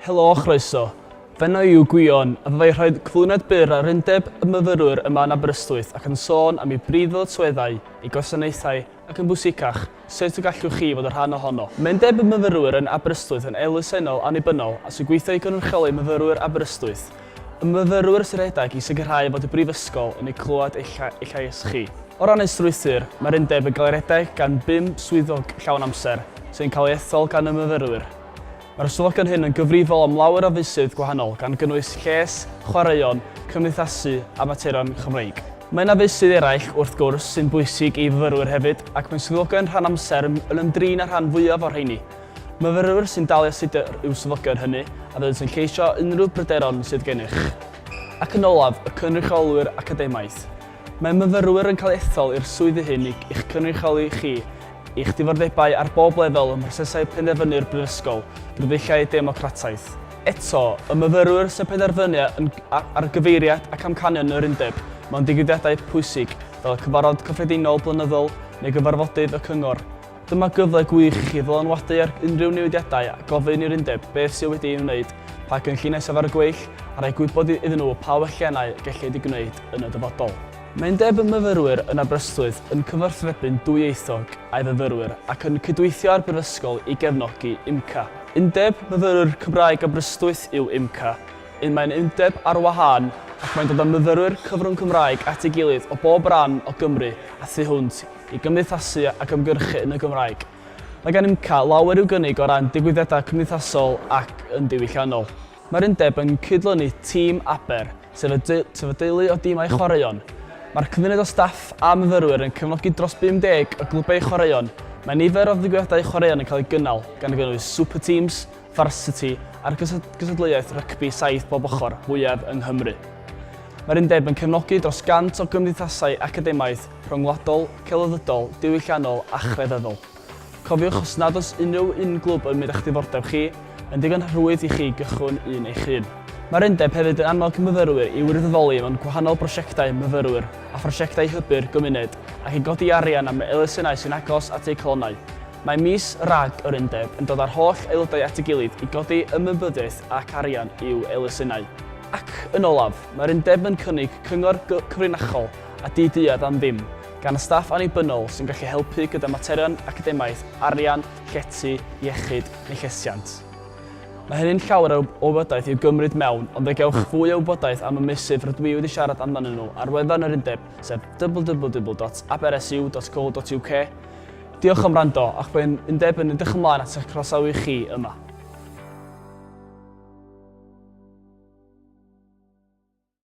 Helo a chroeso. Fy enw i yw Gwion a fyddai rhoi cyflwyniad byr ar Undeb y Myfyrwyr yma yn Aberystwyth ac yn sôn am ei brif ddyletswyddau, ei gwasanaethau ac yn bwysicach, sut y gallwch chi fod yn rhan ohono. Mae Undeb y Myfyrwyr yn Aberystwyth yn elusennol annibynnol a sy'n gweithio i gynrychioli myfyrwyr Aberystwyth. Y myfyrwyr sy'n rhedeg i sicrhau fod y Brifysgol yn ei clywed eich llais chi. O ran ei strwythur, mae'r Undeb yn cael ei redeg gan bum swyddog llawn amser, sy'n cael ei ethol gan y myfyrwyr. Mae'r ystafelloedd hyn yn gyfrifol am lawer o feysydd gwahanol gan gynnwys lles, chwaraeon, cymdeithasu a materion Chymreig. Mae yna feysydd eraill, wrth gwrs, sy'n bwysig i fyfyrwyr hefyd ac mae swyddogion rhan amser yn ymdrin â'r rhan fwyaf o'r rheini. Myfyrwyr sy'n dal i astudio yw swyddogion hynny a byddant yn lleisio unrhyw bryderon sydd gennych. Ac yn olaf, y cynrychiolwyr academaidd. Mae myfyrwyr yn cael ethol i'r swyddi hyn i'ch cynrychioli chi Eich diddordebau ar bob lefel ym mhrosesau penderfynu'r Brifysgol, drwy ddulliau democrataidd. Eto, y myfyrwyr sy'n penderfynu yn gynnar ar gyfeiriad ac amcanion yr Undeb mewn digwyddiadau pwysig fel y Cyfarfod Cyffredinol Blynyddol neu gyfarfodydd y Cyngor. Dyma gyfle gwych i chi ddylanwadu ar unrhyw newidiadau a gofyn i'r Undeb beth sydd wedi ei wneud, pa gynlluniau sydd ar y gweill, a rhoi gwybod iddyn nhw pa welliannau y gellid eu gwneud yn y dyfodol. Mae'n debyg y myfyrwyr yn Aberystwyth yn cyfathrebu'n dwyieithog â'i fyfyrwyr ac yn cydweithio â'r Brifysgol i gefnogi UMCA. Undeb Myfyrwyr Cymraeg Aberystwyth yw UMCA, un mae'n undeb ar wahân ac mae'n dod â myfyrwyr cyfrwng Cymraeg at ei gilydd o bob rhan o Gymru a thu hwnt i gymdeithasu ac ymgyrchu yn y Gymraeg. Mae gan UMCA lawer i'w gynnig o ran digwyddiadau cymdeithasol ac yn diwylliannol. Mae'r undeb yn cydlynu Tîm Aber, sef y teulu o dimau chwaraeon. Mae'r cymuned o staff a myfyrwyr yn cefnogi dros 50 o glybau chwaraeon. Mae nifer o ddigwyddiadau chwaraeon yn cael eu gynnal, gan gynnwys Super Teams, Varsity a'r gystadleuaeth rygbi saith bob ochr fwyaf yng Nghymru. Mae'r undeb yn cefnogi dros 100 o gymdeithasau academaidd, rhyngwladol, celfyddydol, diwylliannol a chrefyddol. Cofiwch os nad oes unrhyw un glwb yn mynd â'ch diddordeb chi, yn digon rhwydd i chi gychwyn un eich hun. Mae'r undeb hefyd yn annog myfyrwyr i wirfoddoli mewn gwahanol brosiectau myfyrwyr a phrosiectau hybu'r gymuned ac i godi arian am elusennau sy'n agos at eu calonnau. Mae mis RAG yr undeb yn dod â'r holl aelodau at ei gilydd i godi ymwybyddiaeth ac arian i'w elusennau. Ac, yn olaf, mae'r undeb yn cynnig cyngor cyfrinachol a di-deall am ddim. gan y staff annibynnol sy'n gallu helpu gyda materion academaidd, arian, llety, iechyd neu llesiant. Mae hynny'n llawer o wybodaeth i'w gymryd mewn ond fe gewch fwy o wybodaeth am y meysydd rydw i wedi siarad amdanyn nhw ar wefan yr undeb sef www.abrsu.co.uk Diolch am wrando ac mae'n undeb yn edrych ymlaen at eich croesawu chi yma.